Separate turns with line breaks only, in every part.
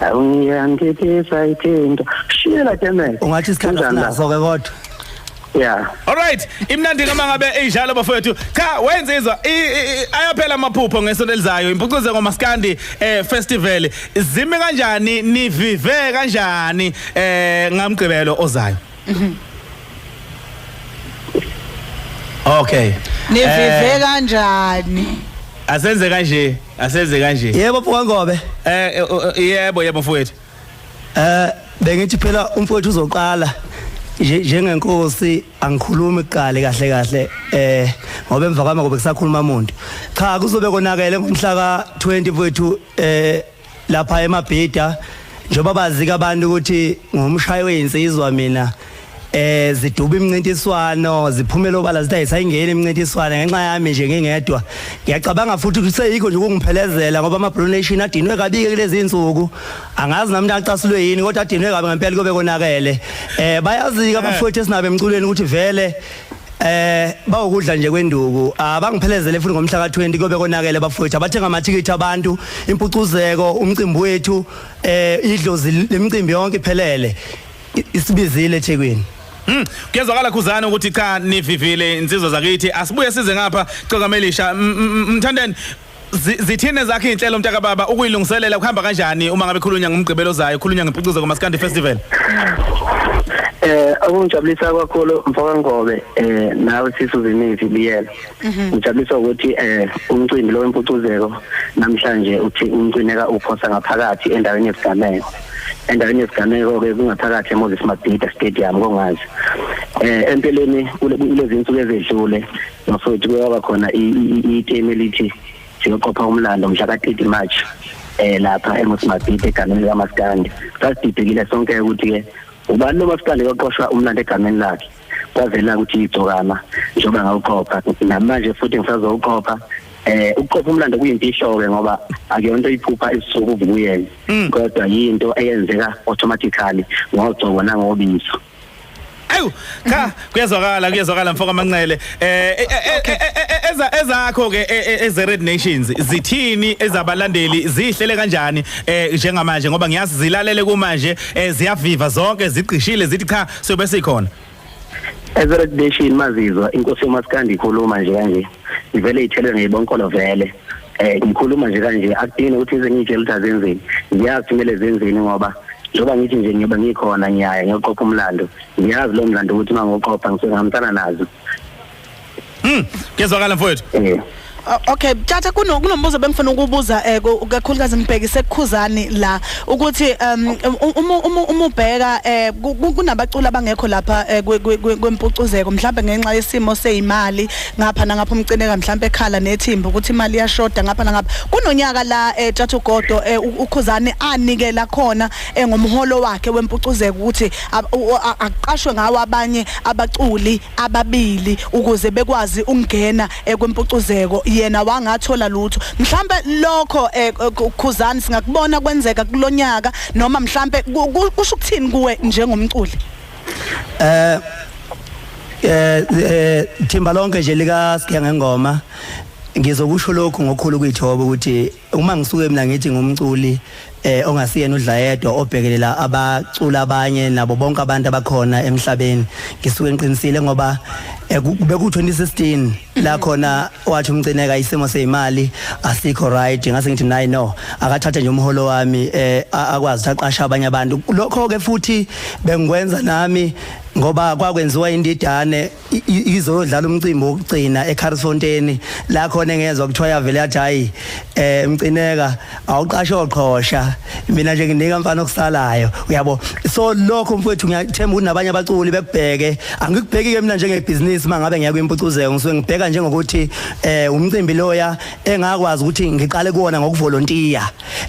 awuyangithisa ithinto shiyela temele ungathi isikhathi sinaso
ke kodwa Yeah.
All right.
Imnandi ngama ngabe eyijalo bafowethu. Cha wenzizwa ayaphela amaphupho ngesonto elizayo. Impucuze ngomaskandi eh festival. Zime kanjani nivive kanjani eh ngamgcibelo ozayo. Mhm. Okay. Nivive eh,
kanjani? Asenze
kanje, asenze kanje. Yebo mfowethu Ngobe.
Eh, eh, eh yebo
yebo mfowethu. Eh
bengithi phela umfowethu uzoqala njengenkosi angikhulumi kuqale kahle kahle eh ngoba emva kwami ngobe kusakhuluma umuntu cha kuzobe konakele ngomhla ka 20 kwethu eh lapha emabhida njengoba bazika abantu ukuthi ngumshayi weyinsizwa mina eh ziduba imncintiswano ziphumela obala zithi ayisayingeni imncintiswano ngenxa yami nje ngingedwa ngiyacabanga futhi ukuthi seyikho nje ukungiphelezela ngoba ama Blue Nation adinwe kabike kulezi insuku angazi nami nacasulwe yini kodwa adinwe kabi ngempela kobe konakele eh bayazika eh. abafowethu esinabe emculweni ukuthi vele eh bawukudla nje kwenduku abangiphelezele futhi ngomhla ka20 kobe konakele bafowethu abathenga amathikithi abantu impucuzeko umcimbi wethu eh idlozi lemicimbi yonke iphelele isibizile eThekwini Mm, kuyezwakala
khuzana ukuthi cha nivivile insizwa zakithi asibuye size ngapha cokamelisha mthandeni Zithini zakhe izinhlelo mntaka baba ukuyilungiselela kuhamba kanjani uma ngabe khulunya ngomgqibelo zayo khulunya ngepucuzo komaskandi festival Eh
okungijabulisa kakhulu mfoka Ngobe eh nawe sisu zimithi biyela mhm. ngijabulisa ukuthi eh umcimbi lo wempucuzeko namhlanje uthi umcineka uphosa ngaphakathi endaweni yesigameko endaweni yesigameko ke kungaphakathi eMoses Mabhida Stadium kongazi eh empeleni kulezi insuku ezedlule mafowethu kuyaba khona itemu elithi siyoqopha umlando mhla ka-30 march eh lapha eMosmabhide egameni likaMaskandi sasididekile sonke ukuthi ke ubani loMaskandi oqoshwa umlando egameni lakhe kwavela ukuthi igcokama njengoba ngawuqopha namanje futhi ngisazowuqopha eh ukuqopha umlando kuyimfihlo ke ngoba akuyonto iphupha isuku kuyena hmm. kodwa yinto eyenzeka automatically ngogcobo nangobiso Ayu
cha kuyezwakala kuyezwakala mfoka Manqele eh, eh, eh, eh eza ezakho ke eze Red Nations zithini ezabalandeli zihlele kanjani eh njengamanje ngoba ngiyazi zilalele kumanje ziyaviva zonke zigqishile zithi cha sobe sikhona Eze
Red Nation mazizwa inkosi uMaskandi ikhuluma nje kanje ivele ithelwe ngeyibonkolo vele eh ngikhuluma nje kanje akudingi ukuthi ize ngitshe ukuthi azenzeni ngiyazi kumele zenzeni ngoba njengoba ngithi nje ngiyoba ngikhona ngiyaya ngiyoqopha umlando ngiyazi lo mlando ukuthi uma ngoqopha ngisengihambisana nazo mm
ngezwakala mfowethu eh Okay,
tata kuno kunombuzo bengifuna ukubuza eh kakhulukazi ngibhekise kukhuzani la ukuthi um uma uma ubheka eh kunabaculi abangekho lapha eh, kwempucuzeko mhlawumbe ngenxa yesimo seyimali ngapha nangapha umcineka mhlawumbe ekhala nethimba ukuthi imali iyashoda ngapha nangapha kunonyaka la eh Thathu Godo eh, ukhuzane anikela khona eh, ngomholo wakhe wempucuzeko ukuthi aqashwe ngawo abanye abaculi ababili ukuze bekwazi ukungena eh, kwempucuzeko yena wangathola lutho mhlawumbe lokho eh, khuzane singakubona kwenzeka kulonyaka noma mhlawumbe kusho ukuthini kuwe njengomculi eh eh,
eh thimba lonke nje lika siya ngengoma ngizokusho lokhu ngokhulu kuyithoba ukuthi uma ngisuke mina ngithi ngumculi eh ongasiyena udlayedwa obhekelela abacula abanye nabo bonke abantu abakhona emhlabeni ngisuke ngiqinisile ngoba eh, beku 2016 la khona wathi umcineka isimo sezimali asikho right ngase ngithi nayi no akathathe nje umholo wami eh akwazi aqasha abanye abantu lokho ke futhi bengikwenza nami ngoba kwakwenziwa indidane izodlala umcimbi wokugcina eCarlsfontein la khona engezwa kuthiwa yavele yathi hayi eh emcineka awuqashe oqhosha mina nje nginika mfana okusalayo uyabo so lokho mfowethu ngiyathemba ukuthi nabanye abaculi bekubheke angikubheki ke mina njengebhizinisi mangabe ngiya kwimpucuzeko ngisuke ngibheka njengokuthi eh umcimbi loya engakwazi ukuthi ngiqale kuwona ngokuvolontiya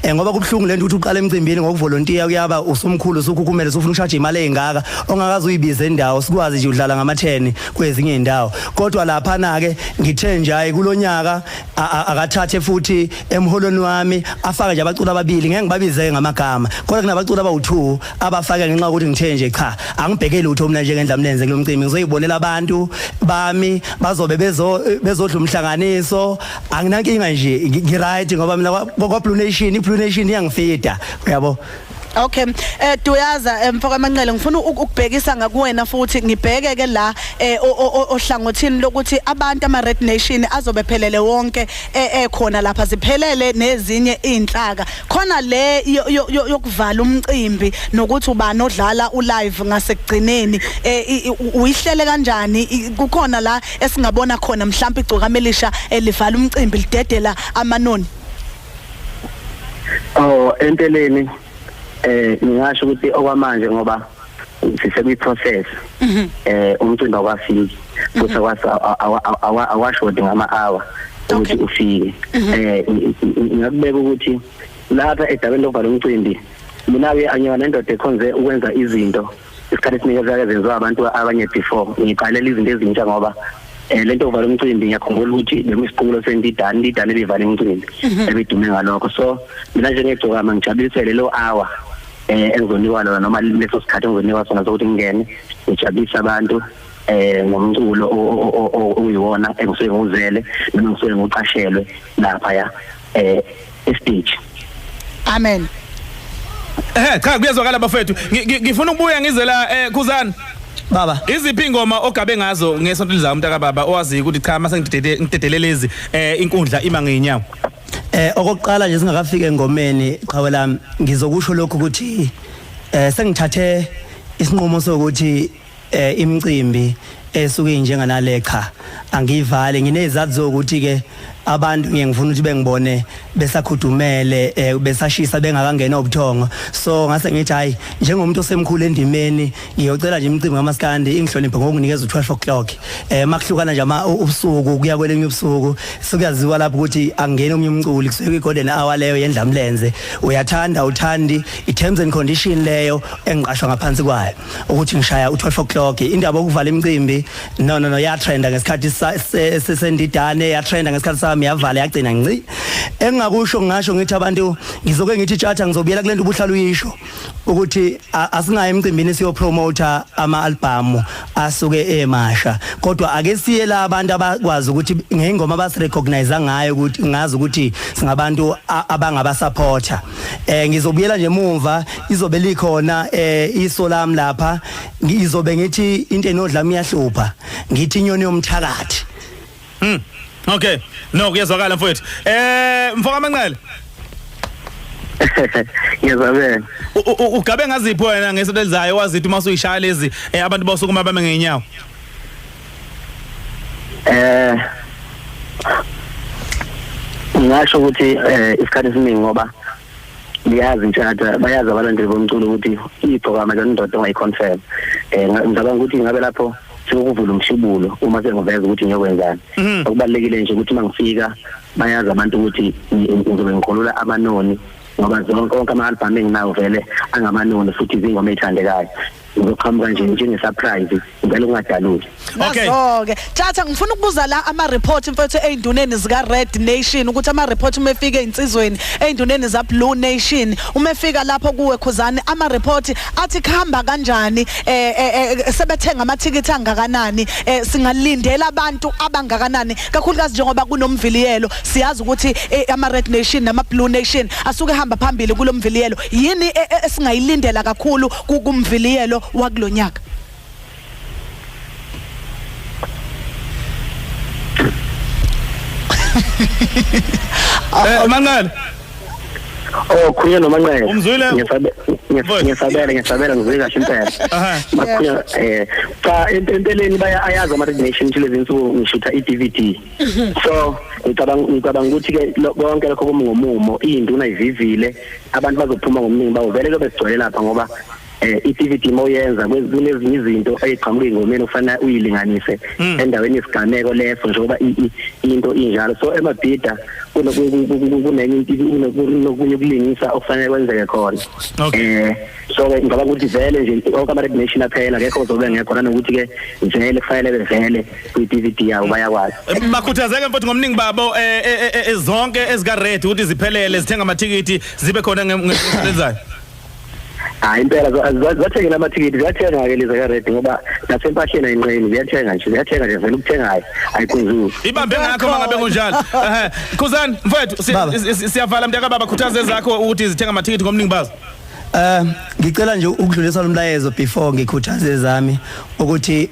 Eh ngoba kubuhlungu lento ukuthi uqala emcimbini ngokuvolontiya kuyaba usumkhulu usukhukhumela usufuna ushaje imali engaka ongakazi uyibize indawo sikwazi nje udlala ngama 10 kwezinye indawo kodwa lapha na ke ngithe nje hayi kulonyaka akathathe futhi emholweni wami afake nje abaculi ababili ngeke ngibabize ngamagama kodwa kunabaculi abawu2 abafake ngenxa ukuthi ngithe nje cha angibhekeli utho mina nje ngendla mlenze kulomcimbi ngizoyibonela abantu bami bazobe bezo bezodla umhlanganiso anginankinga nje ngiright ngoba mina kwa Blue Nation iBlue Nation iyangifida uyabo Okay.
Eh Duyaza eh, mfoka Manqele ngifuna ukubhekisa ngakuwena futhi ngibheke ke la eh ohlangothini lokuthi abantu ama Red Nation azobe phelele wonke eh, eh khona lapha ziphelele nezinye izinhlaka. Khona le yokuvala umcimbi nokuthi ubani odlala ulive ngasekugcineni eh uyihlele kanjani kukhona la esingabona khona mhlawumbe igcokama elisha elivala umcimbi lidedela amanoni
oh empeleni eh ngingasho ukuthi okwamanje ngoba sisekwi process mhm. eh umcimbi awafiki futhi awashodi ngama hour ukuthi ufike mhm. eh ngiyakubeka ukuthi lapha edabeni lokuvala umcimbi mina ke angiyona indoda ekhonze ukwenza izinto isikhathi esiningi ezake zenziwa abantu abanye before ngiqalela izinto ezintsha ngoba eh lento uvala umcimbi ngiyakhumbula ukuthi bekusiqulo sendidani indidani ebivala umcimbi mhm. ebidume ngalokho so mina nje ngegcokama ngijabulisele lo hour eh engizonikwa lona noma leso sikhathi engizonikwa sona sokuthi ngingene ngijabulise abantu eh ngomculo oyiwona engisuke nguzele noma ngisuke ngiqashelwe lapha ya eh estage
amen eh
cha kuyezwakala bafethu ngifuna ukubuya ngize la eh khuzana baba
iziphi ingoma
ogabe ngazo ngesonto lizayo umntaka baba owazi ukuthi cha mase ngidedele ngidedelelezi eh inkundla ima ngeenyawo eh okokuqala
nje singakafika engomeni qhawe lami ngizokusho lokho ukuthi eh sengithathe isinqumo sokuthi eh imicimbi esuke injenga nale cha angivale nginezathu zokuthi ke abantu ngiye ngifuna ukuthi bengibone besakhudumele eh, besashisa bengakangena obuthongo so ngase ngithi hayi njengomuntu osemkhulu endimeni ngiyocela nje imicimbi kamaskandi ingihloniphe ngokunikeza u12 o'clock eh makuhlukana nje ama ubusuku kuya kwelenye ubusuku sikuyaziwa lapho ukuthi angene omunye umculi kusuke igolden hour leyo yendlamlenze uyathanda uthandi i terms and condition leyo engiqashwa ngaphansi kwayo ukuthi ngishaya u12 o'clock indaba okuvala imicimbi no no no ya trenda ngesikhathi sesendidane ya trenda ngesikhathi sami yavala yagcina nci engingakusho ngasho ngithi abantu ngizoke ngithi tjatha ngizobuyela kulento ubuhlalo uyisho ukuthi asingaye emcimbini siyo promoter ama album asuke emasha kodwa ake siye la abantu abakwazi ukuthi ngengoma basi recognize ngayo ukuthi ngazi ukuthi singabantu abangaba supporter eh ngizobuyela nje mumva izobe likhona eh iso lami lapha ngizobe ngithi into enodlami iyahlupha ngithi inyoni yomthakathi mm
okay no kuyezwakala mfowethu eh mfoka manqele
ngiyazabela ugabe
ngaziphi wena ngesontelizayo wazithi uma usuyishaya lezi eh, abantu bosukuma bame ngenyawo
eh ngasho ukuthi eh isikhathi esiningi ngoba liyazi intshata bayazi abalandeli bomculo ukuthi ibhokama lendoda ongayiconfirm eh ngicabanga ukuthi ngabe lapho sokuvula umshibulo uma sengiveza ukuthi ngiyokwenzani mhm. okubalekile nje ukuthi mangifika bayazi abantu ukuthi ngizobe ngikhulula amanoni ngoba zonke onke ama album enginawo vele angamanoni futhi izingoma ezithandekayo uzoqhamuka nje njenge surprise ngicela ungadaluli okay okay
tjatha
ngifuna ukubuza la ama report mfethu einduneni zika red nation ukuthi ama report uma efika einsizweni einduneni za blue nation uma efika lapho kuwe khuzani ama report athi khamba kanjani eh, eh, eh sebethenga ama ticket angakanani eh, singalindela abantu abangakanani kakhulukazi njengoba kunomviliyelo siyazi ukuthi eh, ama red nation nama blue nation asuke hamba phambili kulomviliyelo yini esingayilindela kakhulu kumviliyelo wakulonyaka
Eh manqele
Oh khuluma nomanqele. Umzwile? Ngisabe-
ngis- Boy. Ngisabela ngisabela
ngizwe kahle impela. Aha. Bakhuluma eh cha empe- empeleni baya ayazi ama radiation nje lezi nsuku ngishutha iDVD. so ngicabanga ngicabanga ukuthi ke konke lokho kumi ngomumo induna ivivile abantu bazophuma ngomuningi bawo vele kube sigcwele lapha ngoba eh i-DVD moyenza kunezinye izinto eziqhamuka ingomeni ufana uyilinganise hmm. endaweni yesigameko leso njengoba into injalo so emabhida kunenye into kunokunye ukulingisa okufanele kwenzeke khona eh so ke ngicabanga ukuthi vele nje onke ama recognition aphela akekho ozobe ngekho nanokuthi ke vele kufanele bevele kwi DVD yawo bayakwazi bakhuthazeke mfowethu
ngomningi babo eh, eh, eh, zonke ezika red ukuthi ziphelele zithenga amathikithi zibe khona ngezayo
hayi impela zathengela amathikithi ziyathenga ke lezi ka-red ngoba nasempahleni ayinqeni ziyathenga nje ziyathenga nje vele ukuthengayo ayikhuzuli ibambe ngakho uma ngabe
kunjalo khuzani mfowethu siyavala mntakababa khuthaze zakho ukuthi zithenga amathikithi ngomningi bazo Eh
ngicela nje ukudlulisa lomlayezo before ngikhuthaze ezami ukuthi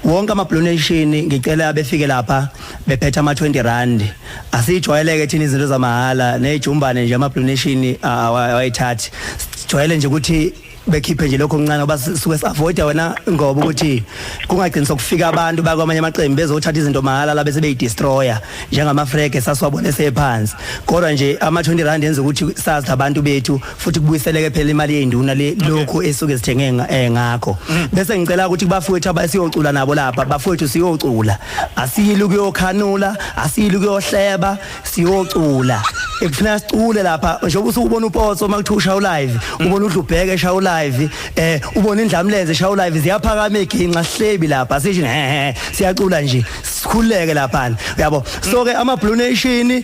wonke ama donation ngicela abefike lapha bephethe ama 20 rand asijwayeleke thina izinto zamahhala nejumbane nje ama donation awayithathi sijwayele nje ukuthi bekhiphe nje lokho kuncane ngoba suke siavoida wena ngoba ukuthi kungagcini sokufika abantu bakwamanye amaqembu bezothatha izinto mahala la bese beyidestroyer njengamafrege sasiwabona esephansi kodwa nje ama-20 rand enza ukuthi sazi labantu bethu futhi kubuyiseleke phela imali yey'nduna le lokhu esuke zithenge nga- eh, ngakho Mm. bese ngicela ukuthi kubafowethu abasiyocula nabo lapha bafowethu siyocula asiyili ukuyokhanula asiyili ukuyohleba siyocula ekufuneka sicule lapha njengoba usuke ubona upotso uma kuthiwa ushaya ulive Mm. ubona udlubheke eshaya ulive um ubona indlamlenze eshaya ulive ziyaphakama iginxa sihlebi lapha sisho hehe siyacula nje sikhuleke lapha uyabo so ke ama blue nation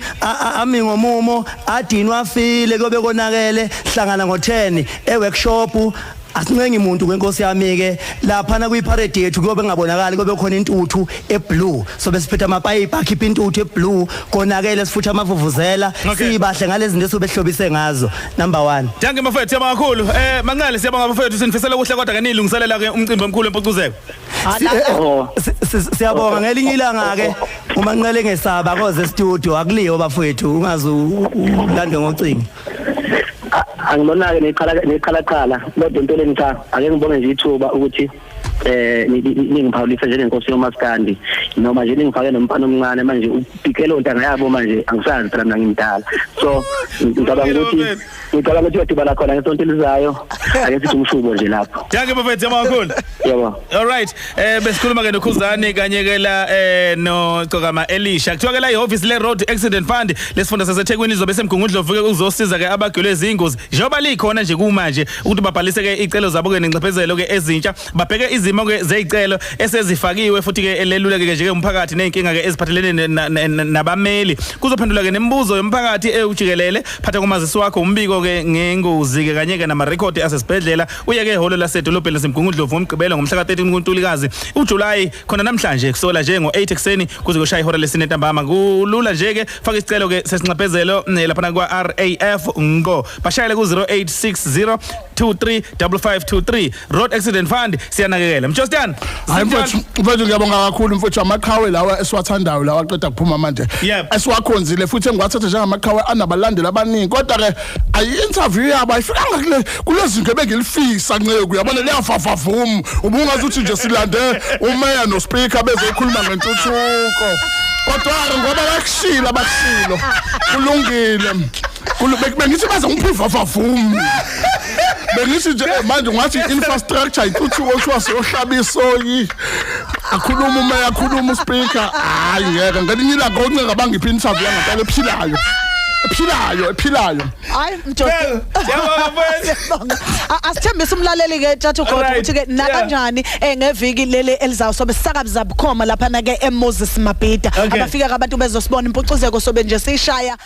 ami ngomumo adinwa afile kobe konakele hlangana ngo 10 e workshop asincengi muntu kwenkosi yami ke lapha na kuyiparade yethu kuyobe ngabonakali kube khona intuthu eblue so besiphetha amapayipi akhipha intuthu eblue konakele sifutha amavuvuzela sibahle ngalezinto esobehlobise ngazo number 1 Danke mafethu yabakakhulu
eh manqele siyabonga mafethu sinifisela kuhle kodwa ke nilungiselela ke umcimbi omkhulu empucuzeko Si- eh, eh, Oh. si- si-
siyabonga ngelinye ilanga ke umanqele engesaba koze studio akuliyo bafowethu ungaze u- u- ulandwe ngocingo
angibonake neqhala neqhala qhala kodwa empeleni cha ake ngibonge nje ithuba ukuthi eh ni- ni- ningiphawulise njengenkosi yomaskandi noma nje ningifake nomfana omncane manje upikelo ntanga yabo manje angisazi phela mina ngimdala so ngicabanga ukuthi ngicabanga ukuthi uyadibana khona ngesonto elizayo ake sithi umshubo
nje lapho danke bafethu amakhulu yebo all right
eh
besikhuluma ke nokhuzani kanye ke la eh no cokama elisha kuthiwa ke la ihoffice le road accident fund lesifunda saseThekwini izobe semgungundlovu ke ukuzosiza ke abagwele izingozi njengoba likhona nje kumanje ukuthi babhalise ke icelo zabo ke nenxephezelo ke ezintsha babheke izimo ke zezicelo esezifakiwe futhi ke eleluleke ke nje ke umphakathi nezinkinga ke eziphathelene nabameli kuzophendula ke nemibuzo yomphakathi ewujikelele phatha kumazisi wakho umbiko ke ngengozi ke kanye ke nama record asesibhedlela uye ke ehholo lasedolobheni lasemgungundlovu ngomgqibelo ngomhla ka-13 kuntulikazi ujuly khona namhlanje kusola nje ngo-8 ekuseni kuze kushaya ihora lesine ntambama kulula nje ke faka isicelo ke sesinxephezelo eh, laphana kwa-raf ngqo bashayele ku-0860 235523 Road Accident Fund siyanakekela. Mjostiyana. Hayi mfowethu,
mfowethu ngiyabonga kakhulu mfowethu amaqhawe lawa esiwathandayo lawa aqeda kuphuma manje. Esiwakhonzile futhi engiwathatha njengamaqhawe anabalandeli abaningi kodwa ke ayi interview yabo ayifikanga kule kulezinto ebengilifisa nceku yabona liyafafavum ubungazi uthi nje silande umeya no speaker bezokhuluma ngentuthuko. Kodwa ngoba bakushila bakushilo kulungile. Kulubekube ngithi baze ngiphiva vavum. bengithi nje eh, manje ngathi infrastructure ituthuko kuthiwa siyohlaba isoyi akhuluma uma yakhuluma uspeaker hayi ngeke ngelinye ilanga oncenga bangiphi interview yangampela ephilayo ephilayo ephilayo hayi mjolo
yabona
mfowethu asithembisa
umlaleli ke tjathu kodwa ukuthi ke nakanjani eh, ngeviki leli elizawusobe sisakabi zabukhoma lapha na ke eMoses Mabhida abafika abantu bezosibona impucuzeko sobe nje sishaya